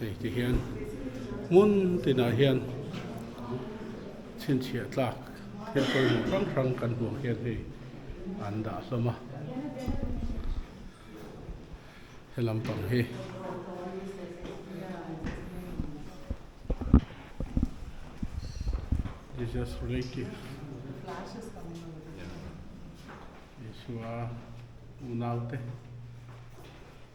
Hei ti hian hmun tinah hian chhinchhiah tlak thil pawimawh hrang hrang kan hmuh hian hei an dah hlawm a. He lampang hi Jesus relative Isua unaute.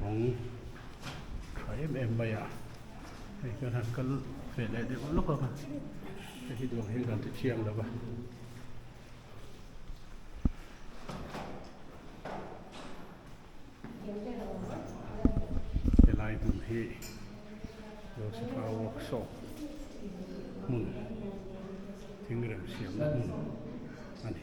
bawng tha em em mai a hei ka han kal ve leh deuh lawk a hei hi dawr hi kan ti thiam lo va. helai hmun hi lawsitna workshop hmun thingrem siamna hmun a ni.